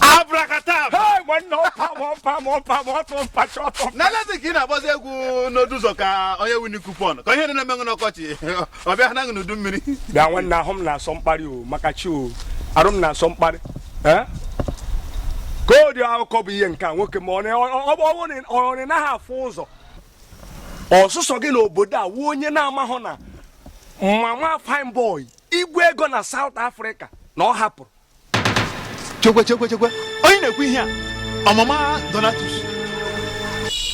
abrakataba Hey, nwanne ọpa m ọpa m ọpa m ọtụ mpa chọtụ mpa. na lezi ka ị na-agbazi egwu n'odu ụzọ ka onye wini coupon ka ihe dị na-emenwe n'ọkọchị ọ bịa ha naghị n'udu mmiri bịa nwanne ahụ m na-asọ mkparị o maka chi o arụ m na-asọ mkparị Eh? ka o dị akụkọ bụ ihe nke a nwoke m a ọ naghị afụ ụzọ ọ sọsọ gị n'obodo a wụ onye na-amahụ na mama Fine Boy Igwe Ego na South Africa na ọ hapụrụ chekwe chekwe chekwe onye na-ekwu ihe a ọ mama Donatus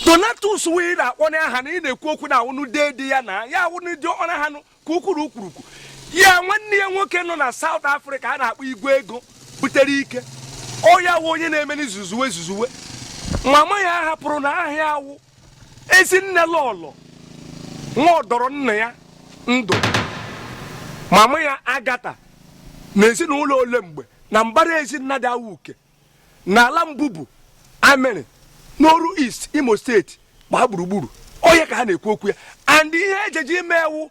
Donatus wee na-akpọ n'aha na ị na-ekwu okwu na awụnụ dede ya na ya awụnụ diọkpara ha nụ ka ukwuru ukwurukwu ya nwanne ya nwoke nọ na South Africa a na-akpọ Igwe Ego butere ike ọ ya wụ onye na-eme zuzuwe zuzuwe mama ya hapụrụ na aha ya wụ ezinne lọlọ nwa ọdọrọ nna ya ndụ mama ya Agatha na ezinụlọ ole mgbe na mbara ezi Nnadị Awuke na ala Mbubu Amịrị n'Oru East Imo State gbaa gburugburu onye ka ha na-ekwu okwu ya and ihe ejeji ime e wụ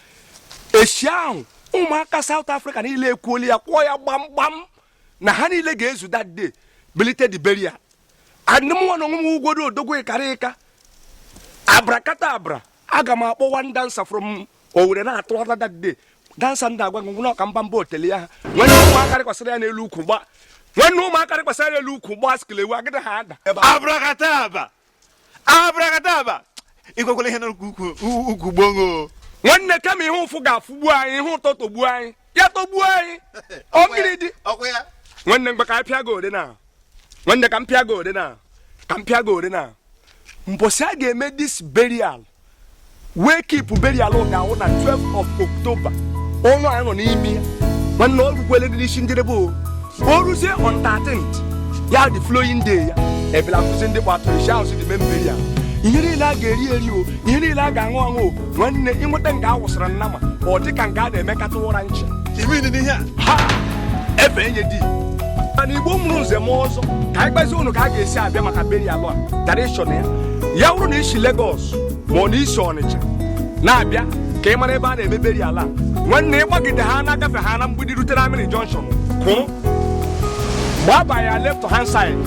echi ahụ ụmụaka South Africa niile ekwuola ya kwuo ya gbamgbam na ha niile ga-ezu that day bulite the burial and mụwa na onwe m ugwodo odogwu ịkara ịka abrakata abra aga m akpọ one dancer from Owerri na-atụghata that day dancer ndị agwa ngwụ n'ọka mba mba otele ya ha nwanne ụmụaka rịkwasịrị ya n'elu ukwu gba skelewu agịda ha ada abrakata aba abrakadaba ị kwekwala ihe n'ukwu gbongo nwanne kama ihe ụfụ ga-afụgbu anyị ihe ụtọ tọgbuo anyị ya tọgbuo anyị ọgịrị dị nwanne mgbe ka anyị pịa gị ode na nwanne ka m pịa gị ode na ka m pịa gị ode na mbọsị a ga-eme this burial wake keep burial ga-awụ na 12 of October ọnwa anyị nọ n'ime ya nwanne ọ rukwele dị n'isi njedebe o o ruzie on 13th ya the following day ya ebela kụzi ndị gbatụrụ isi ahụ si dị mee burial ihe niile a ga-eri eri o ihe niile a ga-aṅụ aṅụ o nwanne ịnweta nga a wụsara nnama ọ dị ka nga a na-eme cattle ranch Imini n'ihe a. ha efe enye di mana Igbo mụrụ nze m ọzọ ka anyị gbazie ụnụ ka a ga-esi abịa maka burial a direction ya ya wụrụ na i si Lagos ma ọ na i si Ọnịcha na-abịa ka ị mara ebe a na-eme burial a nwanne ị gbagide ha na-agafe ha na Mgbidi rute na Amịrị Junction kwụrụ gbaba ya left hand side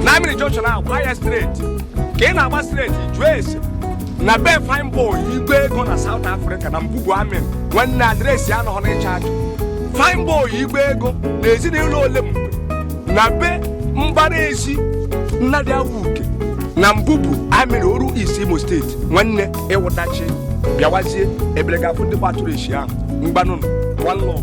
na Amịrị Junction ahụ gbaa ya straight ka ị na-agba straight jụọ ese na be Fine Boy Igwe Ego na South Africa na Mbubu Amịrị nwanne address anọghọ n'ịcha ajụ Fine Boy Igwe Ego na ezinụlọ ole mgbe na be mbara ezi Nnadị Awuke na Mbubu Amịrị Oru East Imo State nwanne ịwụtachi bịawazie ebere ga-afụ ndị gbatụrụ esi ahụ mgbanụnụ one love